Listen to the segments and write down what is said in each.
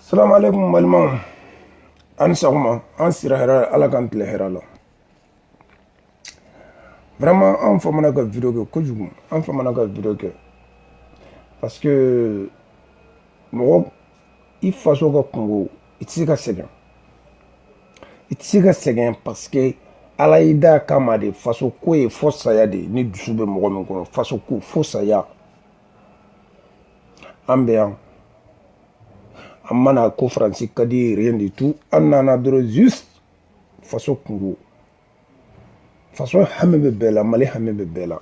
salamu aleykum balimaw an ni sɔgɔma an sira hɛrɛ ala k'an tile hɛrɛ la vraiment an famana ka video kɛ kojugu an famana ka video kɛ parce que mɔgɔ i faso ka kunko i tɛ se ka sɛgɛn i tɛ se ka sɛgɛn parce que ala y'i da kama de faso ko ye fo saya de ni dusu bɛ mɔgɔ min kɔnɔ faso ko fo saya an bɛ yan an ma na ko faransi ka di rien du tout an nana dɔrɔn juste faso kunko faso hami bɛ bɛɛ la mali hami bɛ bɛɛ la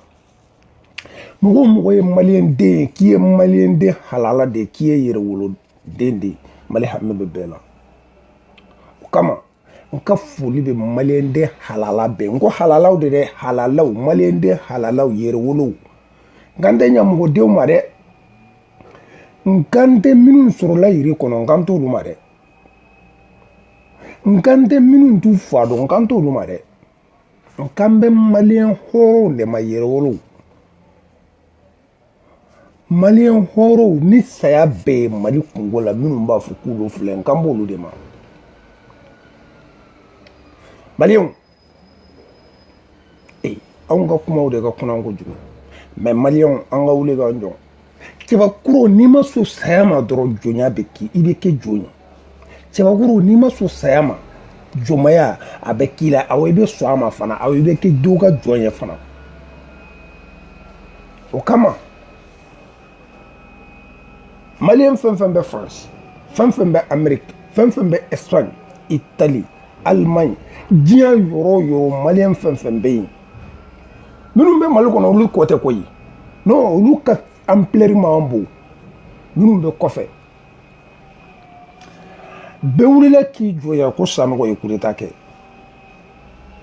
mɔgɔ o mɔgɔ ye maliyɛn den ye k'i ye maliyɛn den halala de ye k'i ye yɛrɛwoloden de ye mali hami bɛ bɛɛ la o kama n ka foli bɛ maliyɛnden halala bɛɛ n ko halalaw de dɛ halalaw maliyɛnden halalaw yɛrɛwolow n kan tɛ ɲamɔgɔdenw ma dɛ n kan tɛ minnu sɔrɔla yiri kɔnɔ n kan t'olu ma dɛ n kan tɛ minnu t'u fa dɔn n kan t'olu ma dɛ n kan bɛ maliyɛn hɔrɔnw de ma yɛrɛwolow maliyɛn hɔrɔnw ni saya bɛ mali kunko la minnu b'a fɔ k'olu filɛ n kan b'olu de ma maliyɛnw ee anw ka kumaw de ka kunan kojugu mɛ maliyɛnw an ka wuli k'an jɔ cɛbakɔrɔ n'i ma sɔn saya ma dɔrɔn jɔnya bɛ k'i i bɛ kɛ jɔn ye cɛbakɔrɔ n'i ma sɔn saya ma jɔnmaya a bɛ k'i la awɔ i bɛ sɔn a ma fana awɔ i bɛ kɛ dɔw ka jɔn ye fana o kama maliyɛn fɛn fɛn bɛ faransi fɛn fɛn bɛ ameriki fɛn fɛn bɛ espagne itali alimaɲi diɲɛ yɔrɔ o yɔrɔ maliyɛn fɛn fɛn bɛ yen minnu bɛ mali kɔnɔ olu ko tɛ koyi non olu ka amplɛri man bon minnu bɛ kɔfɛ bɛɛ wulila k'i jɔ yan ko sanɔgɔ ye kudeta kɛ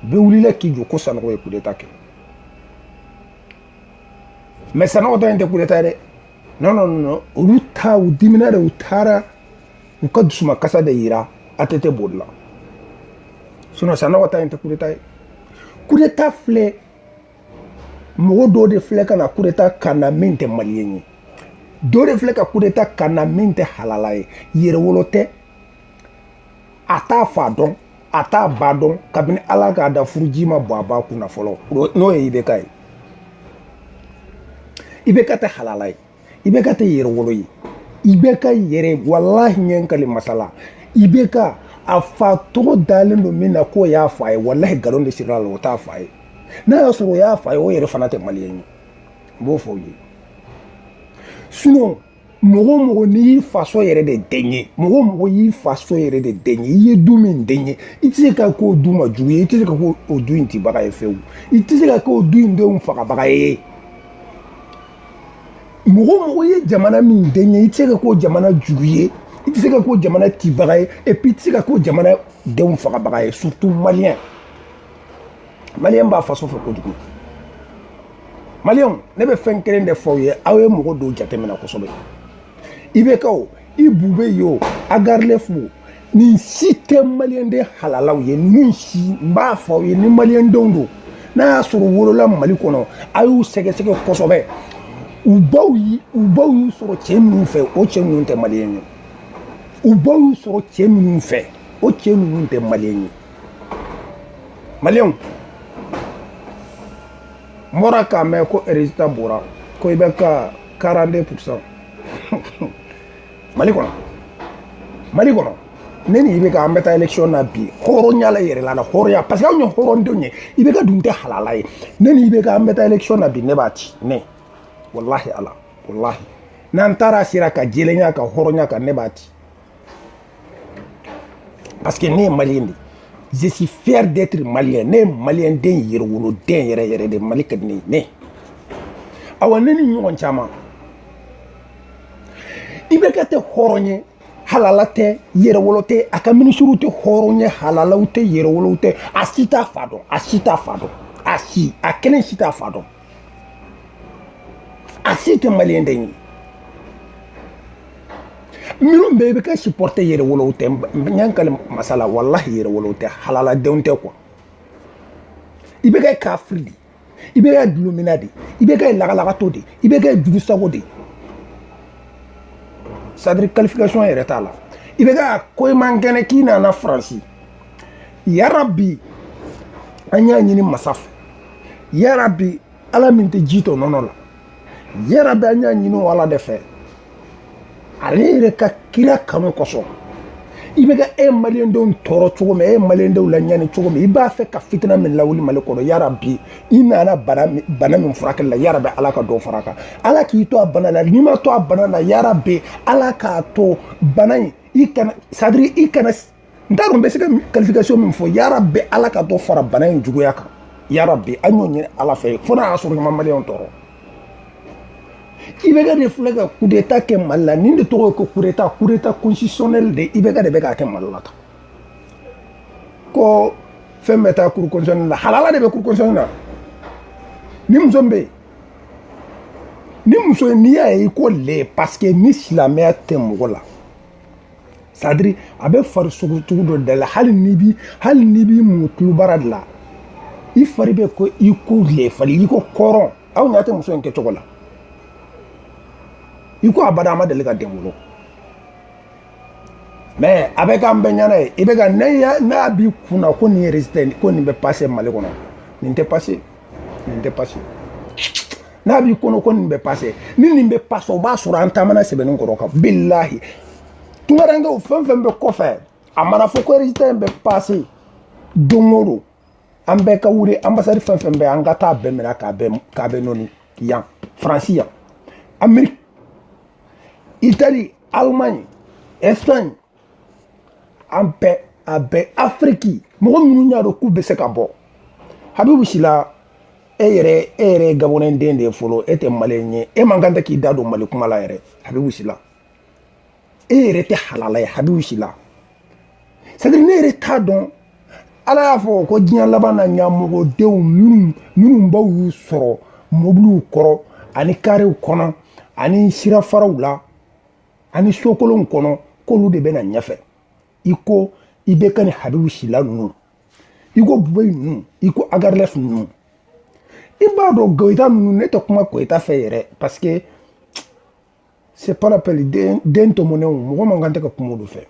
bɛɛ wulila k'i jɔ ko sanɔgɔ ye kudeta kɛ mɛ sanɔgɔ ta in tɛ kudeta ye dɛ non non non olu ta u dimina de u taara u ka dusumakasi de yira atete bolila sinɔn sanɔgɔ ta in tɛ kudeta ye kudeta filɛ mɔgɔ dɔ de filɛ ka na kudeta k'an na min tɛ maliyɛn ye dɔ de filɛ ka kudeta k'an na min tɛ halala ye yɛrɛwolo tɛ a t'a fa dɔn a t'a ba dɔn kabini ala k'a da furuji ma bɔn a ba kunna fɔlɔ n'o ye ibeka ye ibeka tɛ halala ye IBK tɛ yɛrɛwolo ye IBK yɛrɛ walahi n ye n kali masa la IBK a fa tɔgɔ dalen don min na k'o y'a fa ye walahi nkalon de sirila a la o t'a fa ye n'a y'a sɔrɔ o y'a fa ye o yɛrɛ fana tɛ maliyɛn ye n b'o fɔ u ye sinɔn mɔgɔ mɔgɔ n'i y'i faso yɛrɛ de den ye mɔgɔ mɔgɔ y'i faso yɛrɛ de den ye i ye du min den ye i tɛ se ka k'o du ma jugu ye i tɛ se ka k'o du in tibaga ye fewu i tɛ se ka k'o du in denw fagabaga ye mɔgɔ o mɔgɔ ye jamana min den ye i tɛ se ka k'o jamana jugu ye i tɛ se ka k'o jamana tibaga ye et puis i tɛ se ka k'o jamana denw fagabaga ye surtout maliyɛn maliyɛn b'a faso fɛ kojugu maliyɛnw ne bɛ fɛn kelen de fɔ aw ye aw ye mɔgɔ dɔw jateminɛ kosɛbɛ IBK o i Boubèye o Ag Erlaf nin si tɛ maliyɛnden halalaw ye ninnu si n b'a fɔ aw ye ni maliyɛndenw don n'a y'a sɔrɔ wolola mali kɔnɔ a y'u sɛgɛsɛgɛ kosɛbɛ u baw u baw y'u sɔrɔ cɛ minnu fɛ o cɛ ninnu tɛ maliyɛn ye u baw y'u sɔrɔ cɛ minnu fɛ o cɛ ninnu tɛ maliyɛn ye maliyɛnw n bɔra k'a mɛn ko résultat bɔra ko IBK 42 pourcent mali kɔnɔ mali kɔnɔ ne ni IBK an bɛ taa élection na bi hɔrɔnya la yɛrɛ la na hɔrɔnya parce que anw ye hɔrɔndenw ye IBK dun tɛ halala ye ne ni IBK an bɛ taa élection na bi ne b'a ci ne walahi ala walahi n'an taara a sira kan jɛlenya kan hɔrɔnya kan ne b'a ci parce que ne ye maliyɛn de ye je suis fier d'être malien ne ye maliyɛn den yɛrɛwolo den yɛrɛ yɛrɛ de mali ka di ne ye ne awa ne ni ɲɔgɔn caman IBK tɛ hɔrɔn ye halala tɛ yɛrɛwolo tɛ a ka minisiriw tɛ hɔrɔn ye halalaw tɛ yɛrɛwolow tɛ a si t'a fa dɔn a si t'a fa dɔn a si a kelen si t'a fa dɔn a si tɛ maliyɛn den ye minnu bɛ IBK supporter yɛrɛwolow tɛ n ye n kali masa la walahi yɛrɛwolow tɛ halaladenw tɛ quoi IBK ye kafiri de ye IBK ye dulɔminna de IBK ye lagalagatɔ de IBK ye jugusago de c'est-à-dire qualification yɛrɛ t'a la IBK ko i man kɛnɛ k'i nana faransi yarabi an y'a ɲini masa fɛ yarabi ala min tɛ ji tɔ nɔnɔ la yarabi an y'a ɲini o ala de fɛ ale yɛrɛ ka kira kanu kosɔn IBK e maliyɛndenw tɔɔrɔ cogo min e maliyɛndenw laɲani cogo min i b'a fɛ ka fitina min lawuli mali kɔnɔ yarabi i nana bana min furakɛli la yarabi ala ka dɔ fara a kan ala k'i to a bana la n'i ma to a bana la yarabi ala k'a to bana in i kana c'est-à-dire i kana n t'a dɔn n bɛ se ka qualification min fɔ yarabi ala ka dɔ fara bana in juguya kan yarabi an y'o ɲini ala fɛ fo n'a y'a sɔrɔ a ma maliyɛnw tɔɔrɔ ibeka de filɛ ka kudeta kɛ mali la nin de tɔgɔ ye ko kudeta kudeta constitutionnel de ibeka de bɛ k'a kɛ mali la tan ko fɛn bɛ taa cour constitutionnelle la halala de bɛ cour constitutionnelle la ni muso min bɛ yen ni muso n'i y'a ye i ko lɛ parce que ni silamɛya tɛ mɔgɔ la sadiri a bɛ fari sogo cogo dɔ de la hali n'i b'i hali n'i b'i mun tulubara de la i fari bɛ kɛ i ko lɛ fari i ko kɔrɔn aw ɲɛ tɛ muso in kɛcogo la i ko abada a ma deli ka den wolo mɛ a bɛ k'an bɛɛ ɲɛna ye ibeka n'a b'i kun na ko nin yɛrɛ ko nin bɛ pase mali kɔnɔ nin tɛ pase nin tɛ pase n'a b'i kɔnɔ ko nin bɛ pase ni nin bɛ pase o b'a sɔrɔ an taamana sɛbɛnni kɔrɔ kan bilahi tungarankew fɛn fɛn bɛ kɔfɛ a mana fɔ ko résultat in bɛ pase don o don an bɛɛ ka wuli anbasadi fɛn fɛn bɛ an ka taa a bɛɛ minɛ k'a bɛɛ k'a bɛɛ nɔni yan faransi yan ameriki itali alemaɲi espagne an bɛɛ a bɛɛ afiriki mɔgɔ minnu y'a dɔn k'u bɛ se ka bɔ habibu sila e yɛrɛ e yɛrɛ gabɔnɛ den de ye fɔlɔ e tɛ maliyɛn ye e man kan tɛ k'i da don mali kuma la yɛrɛ habibu sila e yɛrɛ tɛ halala ye habibu sila c'est à dire ne yɛrɛ t'a dɔn ala y'a fɔ ko diɲɛ laban na ɲamɔgɔdenw minnu minnu baw y'u sɔrɔ mobiliw kɔrɔ ani karew kɔnɔ ani sirafaraw la ani sokolonw kɔnɔ k'olu de bɛ na ɲɛfɛ i ko ibeka ni habibu sila ninnu i ko bubɛyi ninnu i ko ag erlaf ninnu i b'a dɔn goyita ninnu ne tɛ kuma goyita fɛ yɛrɛ parce que c'est pas la peine den tɔmɔnenw mɔgɔ man kan tɛ ka kuma olu fɛ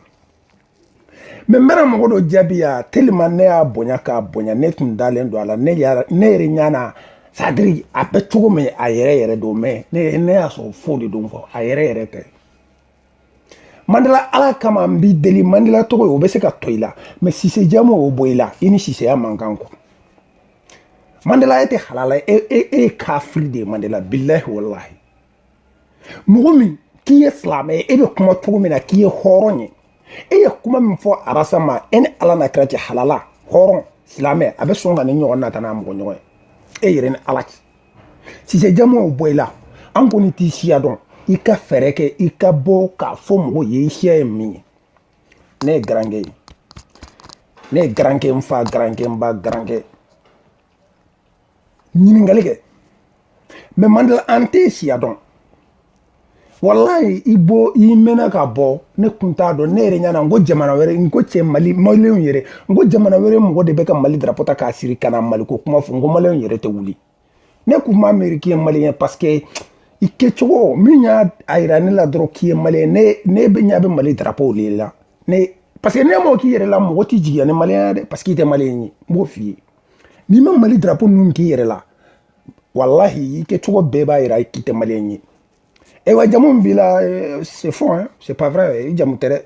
mɛ n bɛna mɔgɔ dɔ jaabi yan tellement ne y'a bonya k'a bonya ne tun dalen don a la ne yɛrɛ ɲana sadiri a bɛ cogo min a yɛrɛ yɛrɛ don mɛ ne y'a sɔrɔ faux de don faux a yɛrɛ yɛrɛ tɛ mandela ala kama n b'i deli mandela tɔgɔ o bɛ se ka to i la mɛ sise jamu o bɔ i la i ni siseya man kan ko mandela e tɛ halala e ye kafiri de ye mandela bilahi walahi mɔgɔ min k'i ye silamɛ ye e bɛ kuma cogo min na k'i ye hɔrɔn ye e ye kuma min fɔ arasa ma e ni ala n'a kira cɛ halala hɔrɔn silamɛ a bɛ sɔn ka nin ɲɔgɔnna ta n'a mɔgɔ ɲɔgɔn ye e yɛrɛ ni ala cɛ sise jamu o bɔ i la an kɔni t'i siya dɔn i ka fɛɛrɛ kɛ i ka bɔ k'a fɔ mɔgɔw ye i siya ye min ye ne ye garankɛ ye ne ye garankɛ n fa garankɛ n ba garankɛ ɲininkali kɛ mais mandela an tɛ siya dɔn walayi i bɔ i mɛnna ka bɔ ne kun t'a dɔn ne yɛrɛ ɲana n ko jamana wɛrɛ n ko cɛ mali malilenw yɛrɛ n ko jamana wɛrɛ mɔgɔ de bɛ ka mali darapo ta k'a siri ka na maliko kuma fɔ n ko malilenw yɛrɛ tɛ wuli ne kun ma miiri k'i ye maliyɛn parce que i kɛcogo min y'a a yira ne la dɔrɔn k'i ye maliyɛn ne ne bɛ ɲa bɛ mali darapo de la ne parce que n'i m'o k'i yɛrɛ la mɔgɔ t'i jigiya ni maliyɛn ye dɛ parce que i tɛ maliyɛn ye n b'o f'i ye n'i ma mali drapo ninnu k'i yɛrɛ la walahi i kɛcogo bɛɛ b'a yira k'i tɛ maliyɛn ye ayiwa jamu min b'i la c'est faux hein c'est pas vrai i jamu tɛ dɛ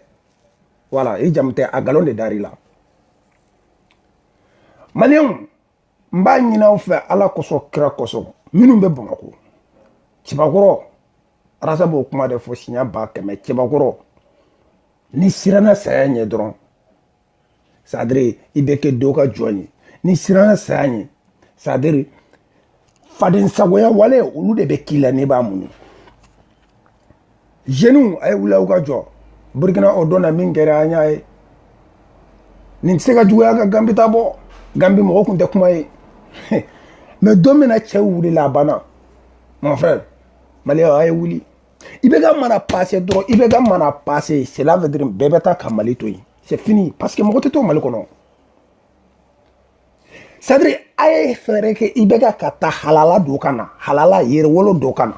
voilà i jamu tɛ a galon de dar'i la maliyɛnw n b'a ɲini aw fɛ ala kosɔn kira kosɔn minnu bɛ bamakɔ cɛbakɔrɔ rasta b'o kuma de fɔ siɲɛ ba kɛmɛ cɛbakɔrɔ n'i siranna saya ɲɛ dɔrɔn c'est-à-dire i bɛ kɛ dɔ ka jɔn ye n'i siranna saya ɲɛ c'est-à-dire faden sagoya wale olu de bɛ k'i la ne b'a mun jeniw a ye wuli aw ka jɔ burkina o don na min kɛra an y'a ye nin tɛ se ka juguya ka ganbi ta bɔ ganbi mɔgɔ kun tɛ kuma yen mais don min na cɛw wulila a banna mon frère maliyɛn a ye wuli ibk mana pase dɔrɔn ibk mana pase cela veut dire bɛɛ bɛ taa ka mali to yen c'est fini parce que mɔgɔ tɛ to mali kɔnɔ c'est-à-dire a ye fɛɛrɛ kɛ ibk ka taa halala dɔ ka na halala yɛrɛwolo dɔ ka na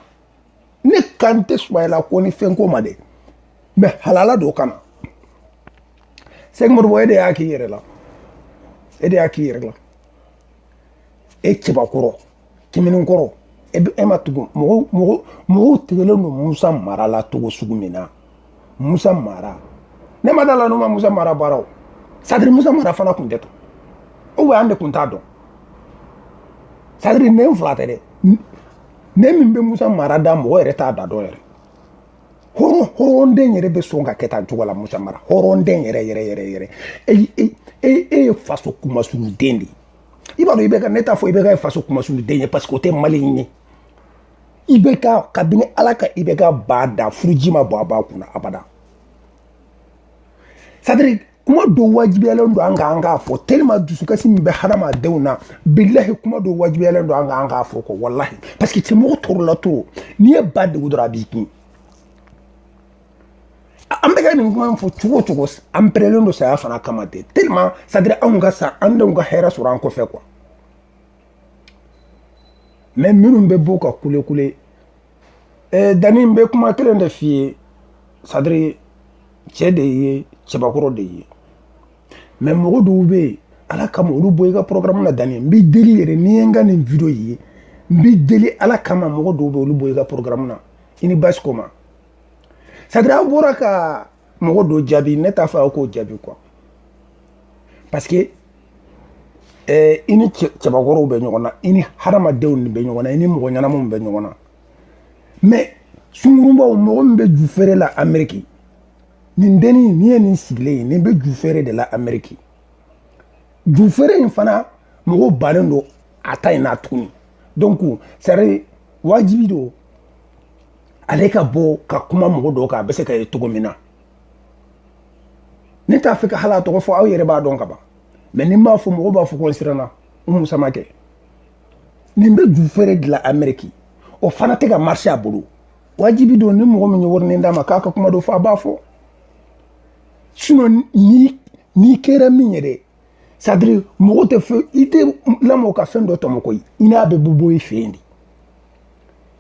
ne kan tɛ sumayila ko ni fɛn ko ma dɛ mais halala dɔ ka na sɛki modibo e de y'a k'i yɛrɛ la e de y'a k'i yɛrɛ la e cɛbakɔrɔ kiminin kɔrɔ e, e ma tugu mɔgɔw mɔgɔw mɔgɔw tigɛlen don musa mara la cogo sugu min na musa mara ne ma da la n'u ma musa mara baaraw c'est-à-dire musa mara fana tun tɛ to ou an de tun t'a dɔn c'est-à-dire ne fila tɛ dɛ ne min bɛ musa mara da mɔgɔ yɛrɛ t'a da dɔn yɛrɛ hɔrɔn hɔrɔnden yɛrɛ bɛ sɔn ka kɛ tan cogo la musa mara hɔrɔnden yɛrɛ yɛrɛ yɛrɛ yɛrɛ e e e ye faso kunmasuuliden de ye i b'a dɔn ibk ne t'a fɔ ibk faso kunmasuuliden ye parce que o tɛ maliyɛn ye ibk kabini ala ka ibk ba da furuji ma bɔ a ba kunna abada c'est-à-dire kuma dɔ wajibiyalen don an ka an k'a fɔ tellement dusukasi min bɛ hadamadenw na bilahi kuma dɔ wajibiyalen don an ka an k'a fɔ quoi walahi parce que cɛ mɔgɔ tɔɔrɔla trop n'i ye ba dɛgun dɔrɔn a b'i kin an bɛ ka nin kuma in fɔ cogo o cogo an pɛrɛlen don saya fana kama ten tellement c'est à dire anw ka sa an denw ka hɛrɛ sɔrɔ an kɔfɛ quoi mais minnu bɛ b'u ka kule kule eh, dani n bɛ kuma kelen de f'i ye c'est à dire cɛ de ye cɛbakɔrɔ de ye mais mɔgɔ dɔw bɛ yen ala kama olu bɔ i ka programme na dani n b'i deli yɛrɛ n'i ye n ka nin video ye n b'i deli ala kama mɔgɔ dɔw bɛ olu bɔ i ka programme na i ni basi ko ma c'est à dire aw bɔra ka mɔgɔ dɔ jaabi ne t'a fɛ aw k'o jaabi quoi parce que eh, i ni cɛbakɔrɔw bɛ ɲɔgɔn na i ni hadamadenw de bɛ ɲɔgɔn na i ni mɔgɔ ɲɛnamaw bɛ ɲɔgɔn na mais sungurunbaw mɔgɔ min bɛ ju feere la ameriki nin dennin nin ye nin sigilen ye nin bɛ ju feere de la ameriki ju feere in fana mɔgɔw bannen don a ta in na tuguni donc c'est à dire wajibi don ale ka bɔ ka kuma mɔgɔ dɔw kan a bɛ se ka ye cogo min na ne t'a fɛ ka hali a tɔgɔ fɔ aw yɛrɛ b'a dɔn ka ban mais ni n m'a fɔ mɔgɔw b'a fɔ ko n siranna umu samake nin bɛ ju feere de la ameriki o fana tɛ ka marché a bolo wajibi don ni mɔgɔ min ye warinin d'a ma k'a ka kuma dɔ fɔ a b'a fɔ sinon n'i kɛra min ye dɛ c'est à dire mɔgɔ tɛ fɛn i tɛ lamɔ ka fɛn dɔ tɔmɔ koyi i n'a bɛ bɔ i fɛ yen de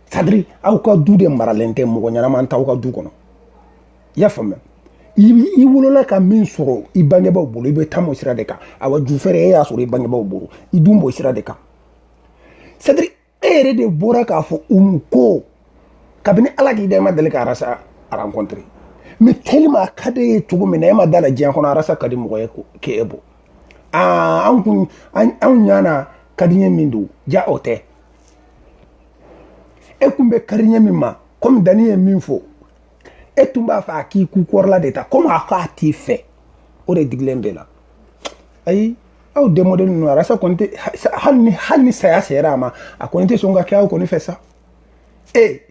c'est à dire aw ka du de maralen tɛ mɔgɔ ɲɛnama t'aw ka du kɔnɔ i y'a faamuya i wolola ka min sɔrɔ i bangebaaw bolo i bɛ taama o sira de kan awa ju feere e y'a sɔrɔ i bangebaaw bolo i dun b'o sira de kan c'est à dire e yɛrɛ de bɔra k'a fɔ umu ko kabini ala k'i da i ma deli ka arasa rencontrer mais tellement a ka d'e ye cogo min na e ma da la diɲɛ kɔnɔ arasa ka di mɔgɔ ye k'e bɔ aa an kun anw ɲana kadiɲɛ min don ja o tɛ e kun bɛ kariɲɛ min ma komi dani ye min fɔ e tun b'a fɛ a k'i ku kɔrɔla de ta komi a ko a t'i fɛ o de digilen b'e la ayi aw démodélen ninnu arasa kɔni tɛ hali ni hali ni saya sera a ma a kɔni tɛ sɔn ka kɛ aw kɔni fɛ sa ee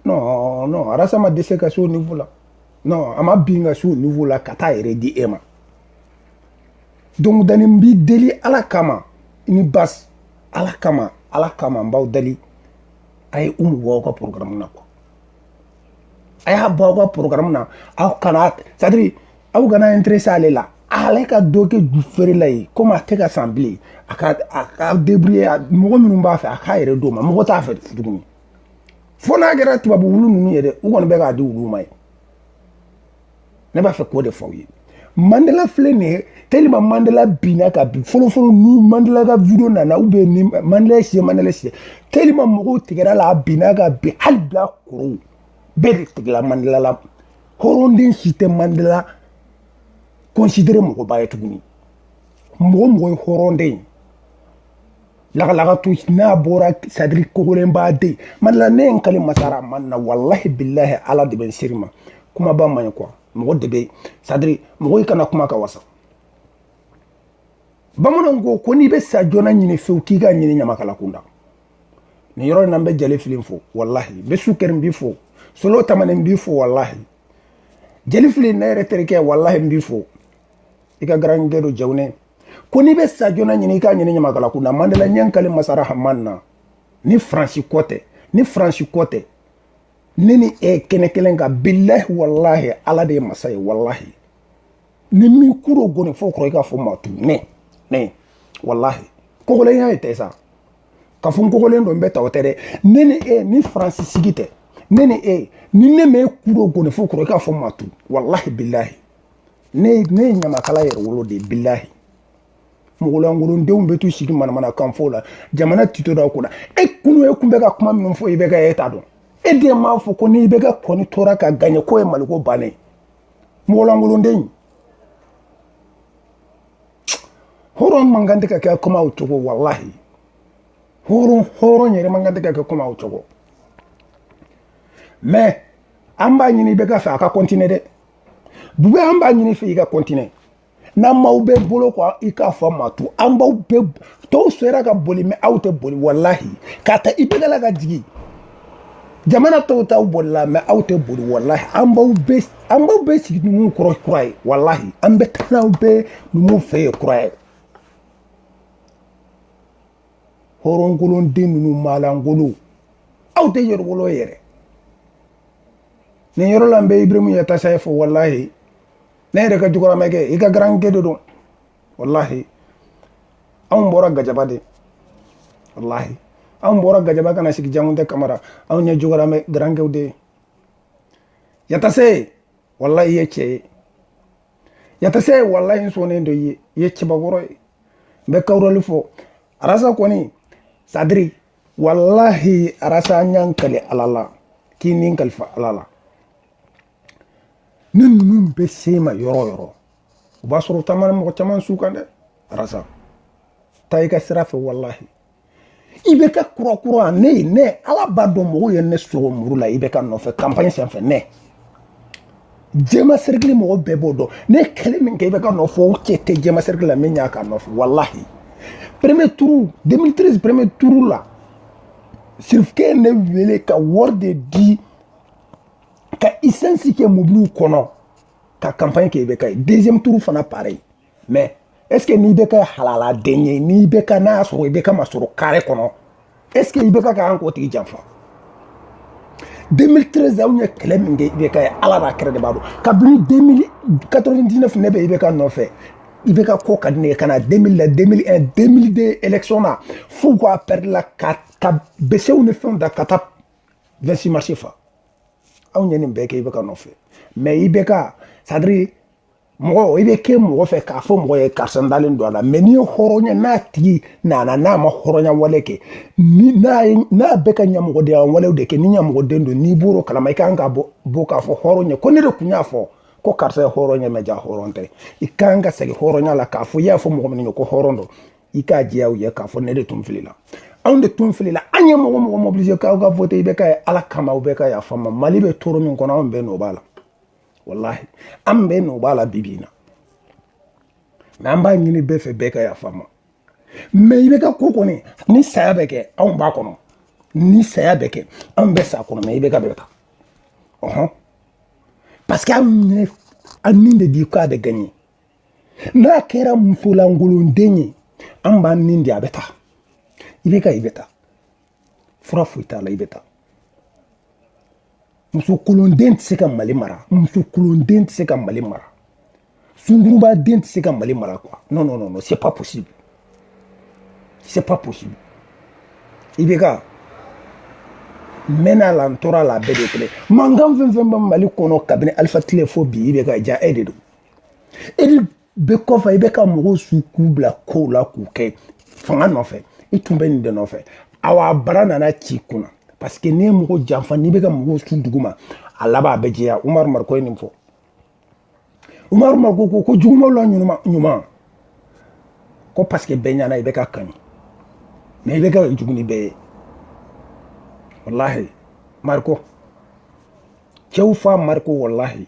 non non arasa ma dɛsɛ ka se o niveau la non a ma bin ka se o niveau la ka t'a yɛrɛ di e ma donc dani n b'i deli ala kama ni basi ala kama ala kama n b'aw deli a ye umu bɔ aw ka programme na quoi a y'a bɔ aw ka programme na aw kana c'est à dire aw kana intéressé ale la ale ka dɔ kɛ ju feerela ye komi a tɛ ka san bilen a ka a ka débrouiller mɔgɔ minnu b'a fɛ a k'a yɛrɛ d'o ma mɔgɔ t'a fɛ tuguni fo n'a kɛra tubabu wulu ninnu ye dɛ u kɔni bɛ k'a di wuluw ma ye ne b'a fɛ k'o de fɔ aw ye mandela filɛ nin ye tellement mandela binna ka bin fɔlɔfɔlɔ ni mandela ka video nana u bɛ ni mandela ye siɲɛ mandela siɲɛ tellement mɔgɔw tigɛra a la a binna ka bin hali bilakorow bɛɛ de tigɛla mandela la hɔrɔnden si tɛ mandela considere mɔgɔba ye tuguni mɔgɔ mɔgɔ ye hɔrɔnden ye lagalagatɔ n'a bɔra c'est-à-dire kogolenba den mandela ne ye n kali masa rahamani na walahi bilahi ala de bɛ n seri ma kumaba man ɲi quoi mɔgɔ de bɛ c'est-à-dire mɔgɔ i kana kuma ka wasa bamananw ko ko n'i bɛ sa joona ɲini fewu k'i k'a ɲini ɲamakala kunda nin yɔrɔ in na n bɛ jeli fili fo walahi bɛ sukɛri n b'i fo solo tamani n b'i fo walahi jeli fili ne yɛrɛ terikɛ walahi n b'i fo i ka garankɛ don jawunɛ ko n'i bɛ sa joona ɲini i k'a ɲini ɲamakala kun na mandela n ye n kali masa rahamani na ni faransi ko tɛ ni faransi ko tɛ ne ni e kɛnɛ kelen kan bilahi walahi ala de ye masa ye walahi ni n m'i kuro goni fo kɔrɔ i k'a fɔ maa tu ne ne walahi kogolenya ye tɛ sa k'a fɔ n kogolen don n bɛ ta o tɛ dɛ ne ni e ni faransi sigi tɛ ne ni e ni ne m'e kuro goni fo kɔrɔ i k'a fɔ maa tu walahi bilahi ne ne ye ɲamakala yɛrɛwolo de bilahi mɔgɔlankolondenw bɛ to sigi manamanakan fɔ la jamana tito da ko la e kunu e tun bɛ ka kuma minnu fɔ ibeka e ta dɔn e de m'a fɔ ko ni ibeka kɔni tora ka gaɲɛ k'o ye mali ko bannen mɔgɔlankolonden hɔrɔn man kan tɛ ka kɛ kuma o cogo walahi hɔrɔn hɔrɔn yɛrɛ man kan tɛ ka kɛ kuma o cogo mais an b'a ɲini ibeka fɛ a ka continuer dɛ bubɛyi an b'a ɲini i fɛ i ka continuer n'an m'aw bɛɛ bolo kɔ i k'a fɔ ma to an b'aw bɛɛ tɔw sera ka boli mais aw tɛ boli walahi k'a ta ibeka la ka jigin jamana tɔw taw bolila mais aw tɛ boli walahi an b'aw bɛɛ an b'aw bɛɛ sigi numuw kɔrɔ kura ye walahi an bɛ taa n'aw bɛɛ numuw fɛ ye kura ye hɔrɔnkolonden ninnu maalankolon aw tɛ yɛrɛwolo yɛrɛ nin yɔrɔ la n bɛ iburahimu yatasaye fo walahi ne yɛrɛ ka jɔgɔramɛkɛ i ka garankɛ de don walahi anw bɔra gajaba de walahi anw bɔra gajaba ka na sigi jangunte kamara anw ye jɔgɔramɛ garankɛw de ye yatase walahi i ye cɛ ye yatase walahi n sɔnnen don i ye i ye cɛbakɔrɔ ye n bɛ kawurali fo arasa kɔni c'est-à-dire walahi arasa an y'an kali ala la k'i ni kalifa ala la ni ninnu bɛ se i ma yɔrɔ o yɔrɔ o b'a sɔrɔ taamana mɔgɔ caman su kan dɛ arasa taa i ka sira fɛ walahi ibeka kurakura ne ye ne ala b'a dɔn mɔgɔw ye ne sɔgɔ muru la ibeka nɔfɛ kanpaɲi senfɛ ne jɛma sɛrɛkili mɔgɔ bɛɛ b'o dɔn ne kɛlɛ min kɛ IBK nɔfɛ o cɛ tɛ jɛma sɛrɛkili la min y'a k'a nɔfɛ walahi premier tour 2013 premier tour la sirifukɛ ne wele ka wari de di ka isansi kɛ mobiliw kɔnɔ ka campagne kɛ IBK ye deuxième tour fana pareil mais est ce que n'IBK halala den ye n'IBK n'a sɔrɔ IBK ma sɔrɔ kare kɔnɔ est ce que IBK kan k'o tigi janfa 2013 anw ye kɛlɛ min kɛ IBK ye ala n'a kira de b'a dɔn kabini 2099 ne bɛ IBK nɔfɛ IBK ko ka di ne ye ka na 2000 la 2001 2002 élection na f'u k'a pɛrɛdila ka ka besew ni fɛnw ta ka taa 26 mars fa anw ye nin bɛɛ kɛ IBK nɔfɛ mais IBK c'est à dire mɔgɔ i bɛ kɛ mɔgɔ fɛ k'a fɔ mɔgɔ ye karisa dalen don a la mais n'i ye hɔrɔn ye n'a tigi nana n'a ma hɔrɔnya wale kɛ ni n'a ye n'a bɛ ka ɲamɔgɔdenya walew de kɛ ni ɲamɔgɔden don n'i bɔr'o kalama i kan ka bɔ bɔ k'a fɔ hɔrɔn ye ko ne de tun y'a fɔ ko karisa ye hɔrɔn ye mais jaa hɔrɔn tɛ i kan ka segin hɔrɔnya la k'a fɔ i y'a fɔ mɔgɔ min ye ko hɔrɔn don i k'a jɛya u ye k'a fɔ ne de tun filila anw de tun filila an ye mɔgɔ mɔgɔ mobiliser k'aw ka voter IBK ye ala kama aw bɛɛ ka yafa an ma mali bɛ tɔɔrɔ min kɔnɔ anw bɛɛ nɔ b'a la walahi an bɛɛ nɔ b'a la bi bi in na mais an b'a ɲini bɛɛ fɛ bɛɛ ka yafa an ma mais IBK ko kɔni ni saya bɛ kɛ anw b'a kɔnɔ ni saya bɛ kɛ anw bɛ s'a kɔnɔ mais IBK bɛ taa ɔhɔn parce que anw y'an ni de di ko a bɛ gagner n'a kɛra musolankolonden ye an b'an ni di a bɛ taa IBK i bɛ taa fura foyi t'a la i bɛ taa muso kolonden tɛ se ka mali mara muso kolonden tɛ se ka mali mara sunguruba den tɛ se ka mali mara quoi non non non c'est pas possible c'est pas possible IBK mɛnna la n tora la a bɛɛ de kelen mankan fɛn o fɛn bɛ mali kɔnɔ kabini alifa tile fo bi IBK jaa e de don e de bɛ kɔfɛ i bɛ ka mɔgɔw su k'u bila kow la k'o kɛ fanga nɔfɛ i tun bɛ nin de nɔfɛ awa bara nana c'i kunna parce que n'i ye mɔgɔ janfa n'i bɛ ka mɔgɔw su duguma a laban a bɛ jɛya umaru mariko ye nin fɔ umaru mariko ko ko jugumanw la ɲuman ɲuman ko parce que bɛɛ ɲɛ na IBK ka ɲi mais IBK ka jugu ni bɛɛ ye walahi mariko cɛw fa mariko walahi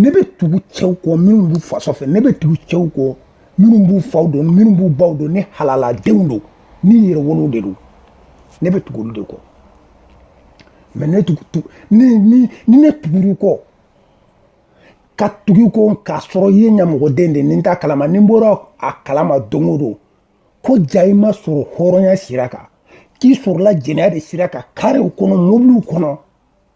ne bɛ tugu cɛw kɔ minnu b'u faso fɛ ne bɛ tugu cɛw kɔ minnu b'u faw dɔn minnu b'u baw dɔn ni halaladenw don ni yɛrɛwolow de don ne bɛ tugu olu de kɔ mais ne tugu tugu ni ni ni ne tugur'i kɔ ka tugu i kɔ k'a sɔrɔ i ye ɲamɔgɔden de ni n t'a kalama ni n bɔra a kalama don o don ko jaa i ma sɔrɔ hɔrɔnya sira kan k'i sɔrɔla jɛnɛya de sira kan karew kɔnɔ mobiliw kɔnɔ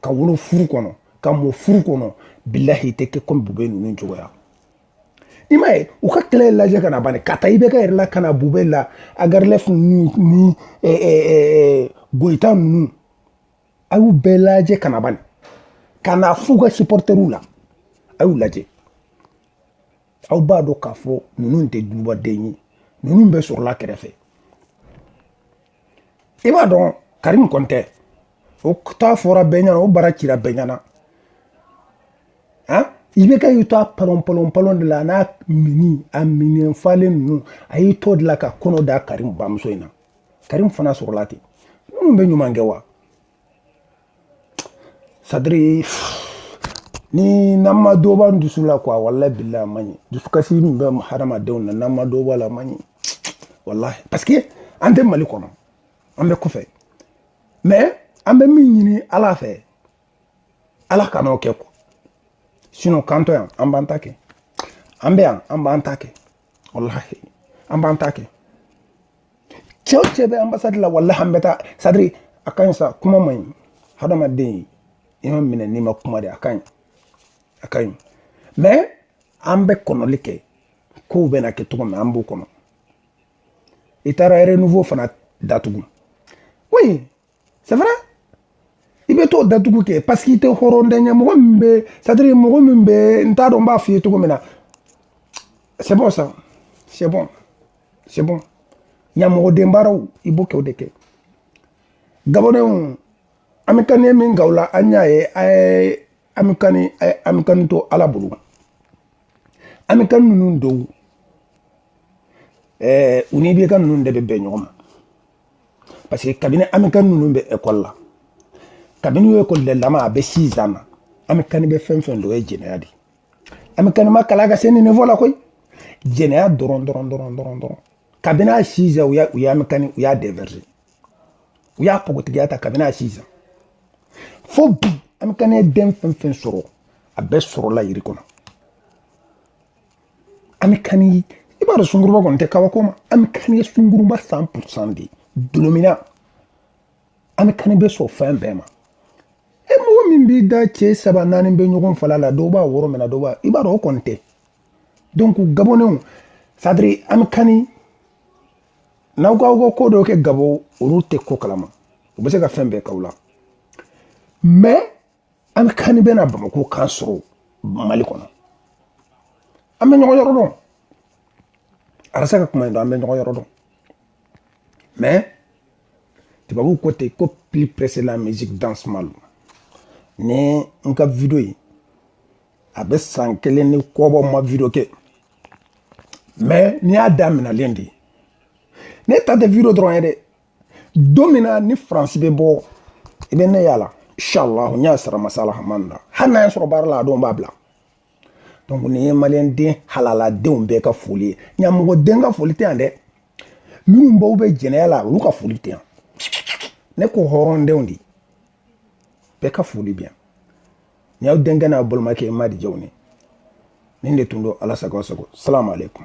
ka wolo furu kɔnɔ ka mɔ furu kɔnɔ bilahi tɛ kɛ komi bubɛyi ninnu cogoya i m'a ye u ka kɛlɛ lajɛ ka na bani k'a ta IBK yɛrɛ la ka na bubɛyi la ag erlaf ni ni goyita ninnu a y'u bɛɛ lajɛ ka na bani ka na f'u ka supporteriw la a y'u lajɛ aw b'a dɔn k'a fɔ ninnu tɛ dubaden ye ninnu bɛɛ sɔrɔla kɛrɛfɛ i b'a dɔn karimu kɔni tɛ o ta fɔra bɛɛ ɲɛna o bara cira bɛɛ ɲɛna han IBK y'i to a palon palon palon de la a n'a mini a minɛn falen ninnu a y'i to de la ka kɔnɔ da karimu bamuso in na karimu fana sɔrɔla ten ninnu bɛ ɲuman kɛ wa c'est à dire ni n'an ma dɔ b'an dusu la quoi walayi bilahi a man ɲi dusukasi min bɛ hadamadenw na n'an ma dɔ b'a la a man ɲi walayi parce que an tɛ mali kɔnɔ an bɛ kɔfɛ mais an bɛ min ɲini ala fɛ ala kan'o kɛ quoi sinon k'an to yan an b'an ta kɛ an bɛ yan an b'an ta kɛ walayi an b'an ta kɛ cɛ o cɛ bɛ ambassade la walahi an bɛ taa c'est à dire a ka ɲi sa kuma man ɲi hadamaden i ma minɛ n'i ma kuma de a ka ɲi a ka ɲi mais an bɛ kɔnɔli kɛ kow bɛna kɛ cogo min an b'o kɔnɔ i taara renouveau fana datugu oui c'est vrai i bɛ t'o datugu kɛ parce que i tɛ hɔrɔnden ye mɔgɔ min bɛ c'est à dire mɔgɔ min bɛ n t'a dɔn n b'a f'i ye cogo min na c'est bon ça c'est bon c'est bon ɲamɔgɔden baaraw i b'o kɛ o de kɛ gabɔndenw ami kani min gaw la an y'a ye a ye ami kani a ye ami kani to ala bolo ami kani ninnu dɔw ɛɛ u n'IBK ninnu de bɛ bɛn ɲɔgɔn ma parce que kabini ami kani ninnu bɛ ekɔli la kabini y'o ekɔli lama a bɛ six ans na ami kani bɛ fɛn fɛn dɔn ye jɛnɛya de ami kani ma kalan ka se niveau la koyi jɛnɛya dɔrɔn dɔrɔn dɔrɔn dɔrɔn dɔrɔn kabini a six ans u y'a u y'ami kani u y'a dévierger u y'a pogotigiya ta kabini a six ans fo bi ami kani den fɛn fɛn sɔrɔ a bɛɛ sɔrɔla yiri kɔnɔ ami kani i b'a dɔn sunguruba kɔni tɛ kabako ma ami kani sunguruba cent pour cent de ye dɔlɔminna ami kani bɛ sɔn fɛn bɛɛ ma e mɔgɔ min b'i da cɛ saba naani bɛ ɲɔgɔn fala la dɔw b'a woro minɛ dɔw b'a i b'a dɔn o kɔni tɛ donc gabɔndenw c'est à dire ami kani n'aw k'aw ka ko dɔw kɛ gabɔn olu tɛ ko kalama u bɛ se ka fɛn bɛɛ k'aw la mais an kan bɛ na bamakɔ k'an sɔrɔ mali kɔnɔ an bɛ ɲɔgɔn yɔrɔ dɔn arasa ka kuma in don an bɛ ɲɔgɔn yɔrɔ dɔn mais tubabuw ko ten ko plus pressé la musique danse mal ni n ka video ye a bɛ san kelen ni kɔ bɔ n ma video kɛ mais nin y'a daminɛlen de ye ne ta tɛ video dɔrɔn ye dɛ don min na ni faransi bɛ bɔ i bɛ ne y'a la inshallah n y'a sara masala hamani na hali n'a y'a sɔrɔ baara la a don n b'a bila donc nin ye maliyɛn den halaladenw bɛɛ ka foli ye ɲamɔgɔden ka foli tɛ yan dɛ minnu baw bɛ jɛnɛya la olu ka foli tɛ yan ne ko hɔrɔndenw de bɛɛ ka foli bɛ yan nin y'aw denkɛ n'aw balimakɛ ye madi jawune nin de tun don ala sago sago salamu aleykum